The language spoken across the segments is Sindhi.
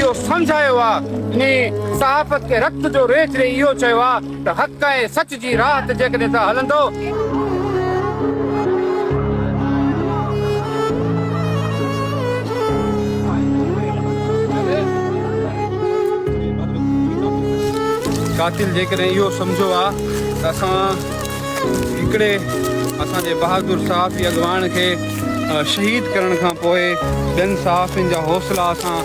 اهو سمجهايو آ ۽ صحافت کي رت جو ريچ ڏئي اهو چيو آ ته حق ۽ سچ جي راهه تي جيڪڏهن ته هلندو. قاتل جيڪڏهن اهو سمجهيو آ ته اسان. هڪڙي اسان جي بهادر صحافي اڳواڻ کي شهيد ڪرڻ کان پوء ٻين صحافين جا حوصلا اسان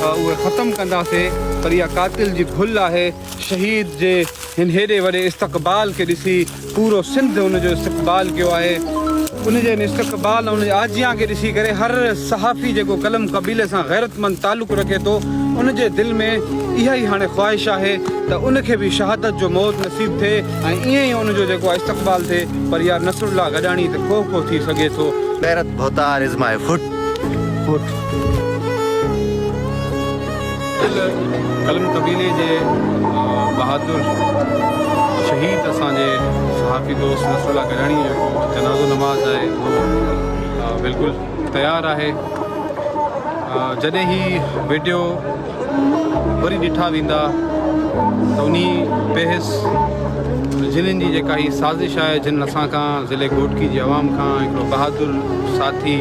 اهي ختم ڪنداسين پر اها قاتل جي ڀل آهي شهيد جي هن هيڏي وڏي استقبال کي ڏسي پورو سنڌ ان جو استقبال ڪيو آهي ان جي هن استقبال ان جي آجيان کي ڏسي ڪري هر صحافي جيڪو قلم قبيلي سان غيرت مند تعلق رکي ٿو ان جي دل ۾ اها ئي هاڻي خواهش آهي ته ان کي به شهادت جو موت نصيب ٿئي ۽ ائين ئي ان جو جيڪو آ استقبال ٿئي پر يار نصرالله گڏاڻي ته ڪوهه ڪوهه ٿي سگهي ٿو. غيرت ڀوتار از ماء فوٽ فوٽ. دل قلم قبيلي جي بهادر شهيد اسان جي صحافي دوست نصرالله گڏاڻي جو جنازو نماز آهي اهو بلڪل تيار آهي جڏهن هي وڊيو وري ڏٺا ويندا ته انهي بحث جنن جي جيڪا هي سازش آهي جنن اسان کان ضلعي گهوٽڪي جي عوام کان هڪڙو بهادر ساٿي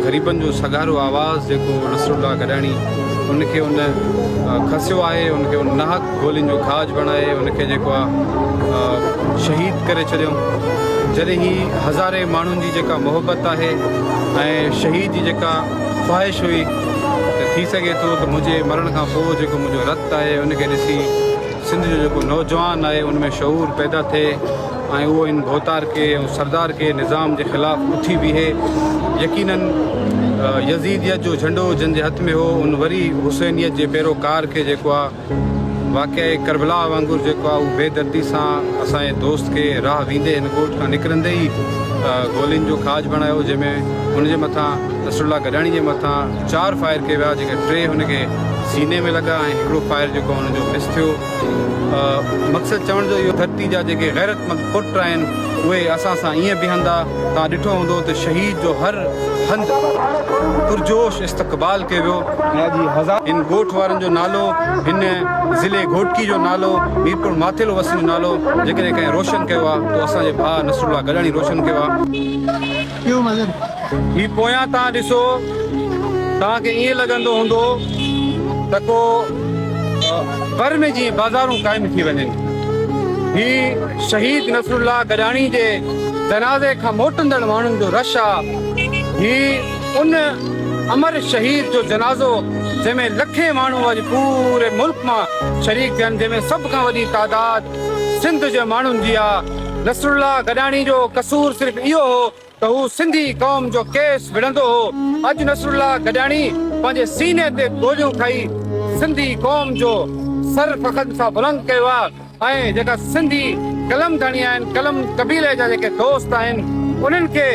غريبن جو سگهارو آواز جيڪو نصرالله گڏاڻي ان کي ان کسيو آهي ان کي ان ناحق گولين جو کاڄ بڻائي ان کي جيڪو آ شهيد ڪري ڇڏيون جڏهن هي هزارين ماڻهن جي جيڪا محبت آهي ۽ شهيد جي جيڪا خواهش هئي ته ٿي سگهي ٿو ته منهنجي مرڻ کان پوء جيڪو منهنجو رت آهي ان کي ڏسي سنڌ جو جيڪو نوجوان آهي ان ۾ شعور پيدا ٿئي ۽ اهو ان ڀوتار کي ۽ سردار کي نظام جي خلاف اٿي بيهي يقينن يزيديت جو جهنڊو جن جي هٿ ۾ هو ان وري حسينيت جي پيروڪار کي جيڪو آهي واقعي ڪربلا وانگر جيڪو آهي اهو بي دردي سان اسان جي دوست کي راهه ويندي هن ڳوٺ کان نڪرندي ئي گولين جو کاڄ بڻايو جنهن ۾ هن جي مٿان نصر الله گڏاڻي جي مٿان چار فائر ڪيا ويا جيڪي ٽي هن کي سيني ۾ لڳا ۽ هڪڙو فائر جيڪو هن جو مس ٿيو مقصد چوڻ جو اهو ڌرتي جا جيڪي غيرتمند پٽ آهن اهي اسان سان ائين بيهندا توهان ڏٺو هوندو ته شهيد جو هر هنڌ پرجوش استقبال ڪيو ويو ۽ اڄ هي هزار. هن ڳوٺ وارن جو نالو هن ضلعي گهوٽڪي جو نالو ميرپور ماٿيلو وسين جو نالو جيڪڏهن ڪنهن روشن ڪيو آ تو اسان جي ڀاء نصر الله گڏاڻي روشن ڪيو آ. هي پويان تان ڏسو توهان کي ائين لڳندو هوندو ته ڪو ور ۾ جيئن بازارون قائم ٿي وڃن هي شهيد نصر الله گڏاڻي جي جنازي کان موٽندڙ ماڻهن جو رش آ هي ان امر شهيد جو جنازو جنهن ۾ لکين ماڻهو اڄ پوري ملڪ مان شريڪ ٿين جنهن ۾ سڀ کان وڏي تعداد سنڌ جي ماڻهن جي آ. نصرالله گڏاڻي جو قصور صرف اهو هو ته هو سنڌي قوم جو ڪيس وڙهندو هو. اڄ نصرالله گڏاڻي پنهنجي سيني تي گوليون کائي سنڌي قوم جو سر فخر سان بلند ڪيو آ. ۽ جيڪا سنڌي قلم ڌڻي آهن، قلم قبيلي جا جيڪي دوست آهن، انهن کي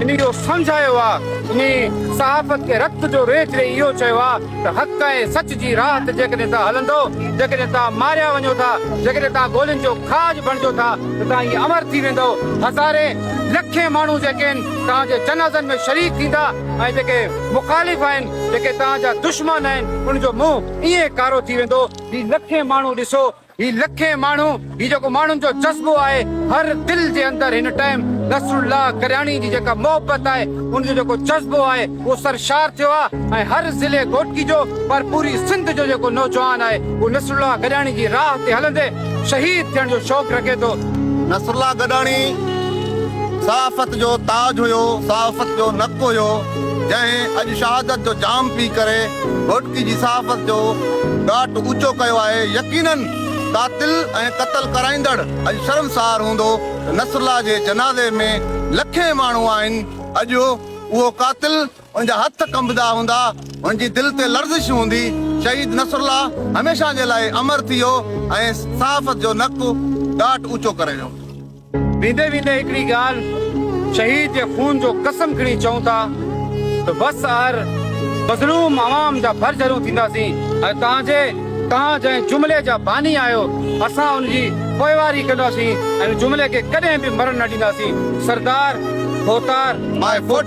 انهي اهو سمجهايو آ، انهي صحافت کي رت جو ريچ ڏئي اهو چيو آ ته حق ۽ سچ جي راهه تي جيڪڏهن توهان هلندؤ، جيڪڏهن توهان ماريا وڃو ٿا، جيڪڏهن توهان گولين جو کاڄ بڻجو ٿا ته توهان ائين امر ٿي ويندؤ، هزارين لکين ماڻهو جيڪي آهن توهان جي جنازن ۾ شريڪ ٿيندا ۽ جيڪي مخالف آهن، جيڪي توهان جا دشمن آهن، انهن جو منهن ائين ڪارو ٿي ويندو. هي لکين ماڻهو ڏسو هي لکين ماڻهو هي جيڪو ماڻهن جو جذبو آهي هر دل جي اندر هن ٽائيم نصرالله ڪرياڻي جي جيڪا محبت آهي ان جو جيڪو جذبو آهي اهو سرشار ٿيو آهي ۽ هر ضلعي گهوٽڪي جو پر پوري سنڌ جو جيڪو نوجوان آهي اهو نصرالله گڏاڻي جي راهه تي هلندي شهيد ٿيڻ جو شوق رکي ٿو. نصرالله گڏاڻي صحافت جو تاج هيو صحافت جو نڪ هيو. جنهن اڄ شهادت جو جام پي ڪري گهوٽڪي جي صحافت جو ڳاٽ اوچو ڪيو آهي، يقينن قاتل ۽ قتل ڪرائيندڙ اڄ شرمسار هوندو ته نصرالله جي جنازي ۾ لکين ماڻهو آهن، اڄ اهو قاتل ان جا هٿ ڪنبدا هوندا، هن جي دل تي لرزش هوندي، شهيد نصرالله هميشه جي لاء امر ٿي ويو ۽ صحافت جو نڪ ڳاٽ اوچو ڪري ويو. ويندي ويندي هڪڙي ڳالهه شهيد جي خون جو قسم کڻي چئون ٿا ته بس اهر مظلوم عوام جا ڀر جهرون ٿينداسين ۽ توهان جي توهان جنهن جملي جا باني آهيو اسان ان جي پوئواري ڪنداسين ۽ ان جملي کي ڪڏهن به مرڻ نه ڏينداسين سردار ڀوتار ماء فوٽ.